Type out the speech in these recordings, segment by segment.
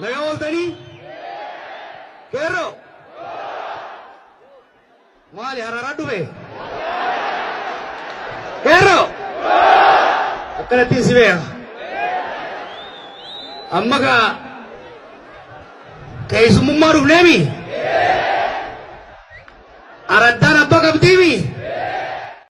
Nagaa ooltanii? Qeerroo? Maali hararaa dhufe? Qeerroo? Akkanattiin si beeka. Amma kaa keessummummaa dhufneemi? Araddaan abbaa qabdiimi?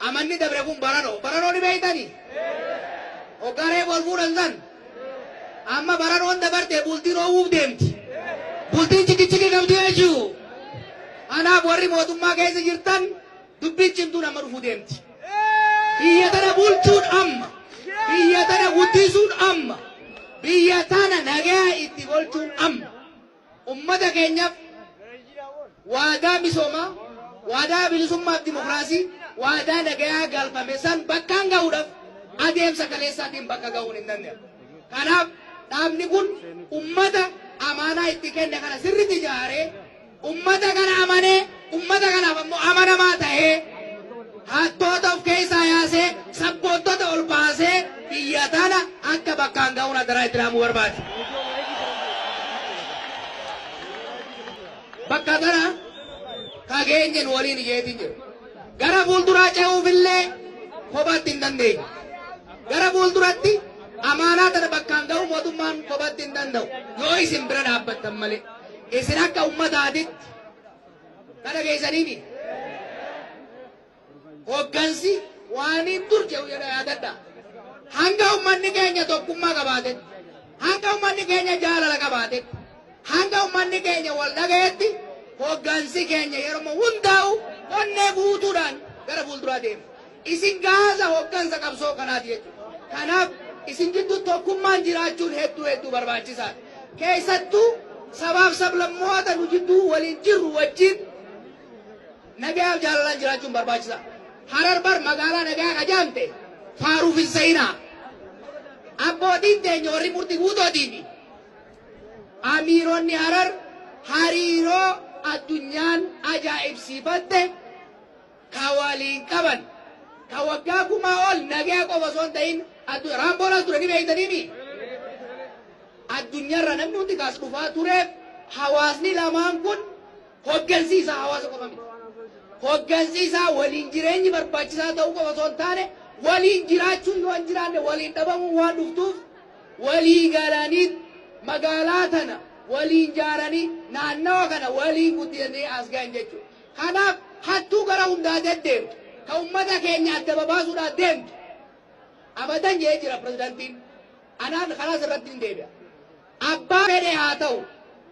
Amanni dabre kun baranoo. Baranoo ni beektani? Hoggaa reefu wal fuudhan san. Amma baranoon dabarte bultiin oowwuuf deemti. Bultiin cikichiki qabdi jechuudha. Kanaaf warri mootummaa keessa jirtan dubbiin cimtuun amma dhufuu deemti. Biyya tana bulchuun amma. Biyya tana guddisuun amma. Biyya tana nagaa itti golchuun amma. Ummata keenyaaf waadaa misoomaa, waadaa bilisummaaf dimokiraasii, waadaa nagayaa galfame san bakkaan gahuudhaaf adeemsa kaleessaatiin bakka gahuun hin danda'amu. Kanaaf dhaabni kun ummata amaanaa itti kenne kana sirriitti ijaaree ummata kana amanee Ummata kanaaf ammoo amanamaa ta'ee hattoota of keessaa yaasee sabboontota ol baasee biyya tana akka bakkaan ga'uun adaraa itti dhaamuu barbaade. Bakka tana kageenye nu waliin ijeetiin jiru. Gara fuulduraa ce'uufillee kophaatti hin dandeenye. Gara fuulduratti amaanaa tana bakkaan ga'uu mootummaan kophaatti hin danda'u. Yoo isin bira dhaabbattan malee isin akka ummataatitti Ka dhageessanii miti. Hoggansi waaniin dur jedhu jedha yaadadha. Hanga ummanni keenya tokkummaa qabaatetti, hanga ummanni keenya jaalala qabaatetti, hanga ummanni keenya wal dhagayetti hoggansi keenya yeroo hundaa'u onnee guutuudhaan gara fuulduraa deema. Isin gaaza hoggansa qabsoo kanaati jechuudha. Kanaaf isin gidduu tokkummaan jiraachuun hedduu hedduu barbaachisaadha. Keessattuu sabaaf sablammoota nu jidduu waliin jirru wajjin nagayaaf jaalalaan jiraachuun barbaachisa. Harar bar magaalaa nagayaa ka jaamte faaruuf hin sa'inaa. Abbootiin teenya warri murti guutootii fi amiironni harar hariiroo addunyaan ajaa'ibsiifatte kan waliin qaban, kan waggaa kumaa ol nagaya qofa osoo hin ta'in addu Raamboon as ture ni beektaniimi? Addunyaarraa namni hundi kaas dhufaa tureef hawaasni lamaan kun hoggansi isaa hawaasa qofa miti. Hoggansi isaa waliin jireenyi barbaachisaa ta'uu qofa osoo hin taane waliin jiraachuun yoo hin jiraanne waliin dhabamuun waan dhuftuuf walii galanii magaalaa tana waliin jaaranii naannawa kana waliin guddisanii as ga'an jechuudha. Kanaaf hattuu gara hundaa deddeemtu, ka ummata keenya adda babaasuudhaaf deemtu abadan jedhee jira pirezidantiin. Anaan kanaas irrattin deebi'a. Abbaa fedhe haa ta'u,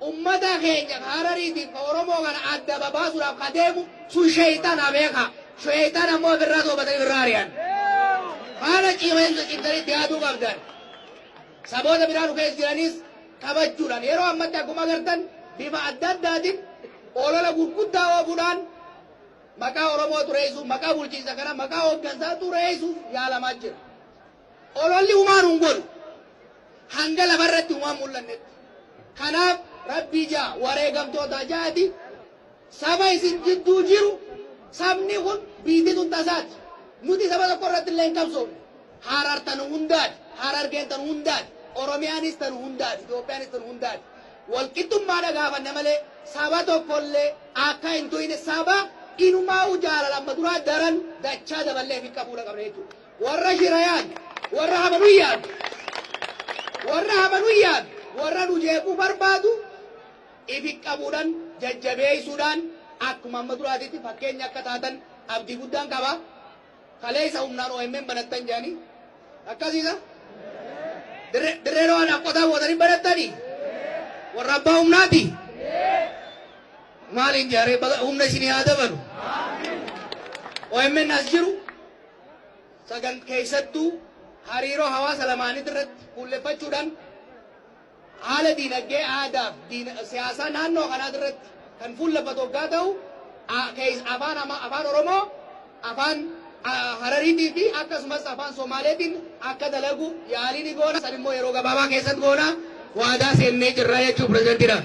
ummata keenya ka Harariitiif ka Oromoo kana adda babaasuudhaaf ka deemu sun sheeyxana beekaa. Sheeyxana immoo ifirraa toobatanii ifirraa ari'an. Kana cimsanii itti yaaduu qabdan. Saboota biraa nu keessa jiranis qabachuudhaan yeroo ammatti akkuma agartan bifa adda addaatiin olola gurguddaa oofuudhaan maqaa Oromoo xureessuuf, maqaa bulchiinsa kana, maqaa hooggansaa xureessuuf yaalamaa jira. Ololli humaa nu hin godhu. Hanga lafarratti humaa hin mul'annetti. Kanaaf rabbii ja'a wareegamtootaa ja'ati Saba isin jidduu jiru, sabni kun biiyti tun tasaati. Nuti saba tokko irrattillee hin qabsoofne. Harar tan hundaati, Harargeen tan hundaati, Oromiyaanis tan hundaati, Itoophiyaanis tan hundaati. Walqixxummaadha gaafanna malee saba tokkollee akka hin tuyne saba inumaa'uu jaalala amma duraa daran dachaa daballee ifiin qabuudha qabna jechuudha. Warra shira yaadu, warra hama nu yaadu, warra hama nu yaadu, warra nu jeequu barbaadu ifi qabuudhan jajjabeessuudhaan akkuma amma duraatitti fakkeenya akka taatan abdii guddaan qaba. Kaleessa humnaan omn banattan jedhanii akkasiisa? Dirre- Dirree Dhawaadhaaf qotaa bootanii banattanii? Warra abbaa humnaati? Maaliin jaaree baga humna isinii haa dabalu? OMN as jiru sagan keessattuu hariiroo hawaasa lamaanii irratti fuulleffachuudhaan Haala diinagdee, aadaa fi diina, siyaasaa naannoo kanaati irratti kan fuulleffatu oggaa ta'u, a, kees, afaan, ama, afaan Oromoo, afaan a, Harariitii fi akkasumas afaan Somaaleetiin akka dalagu yaalii ni goona. San immoo yeroo gabaabaa keessatti goona. Waadaa seennee jirra jechuu pirezidantiidhaan.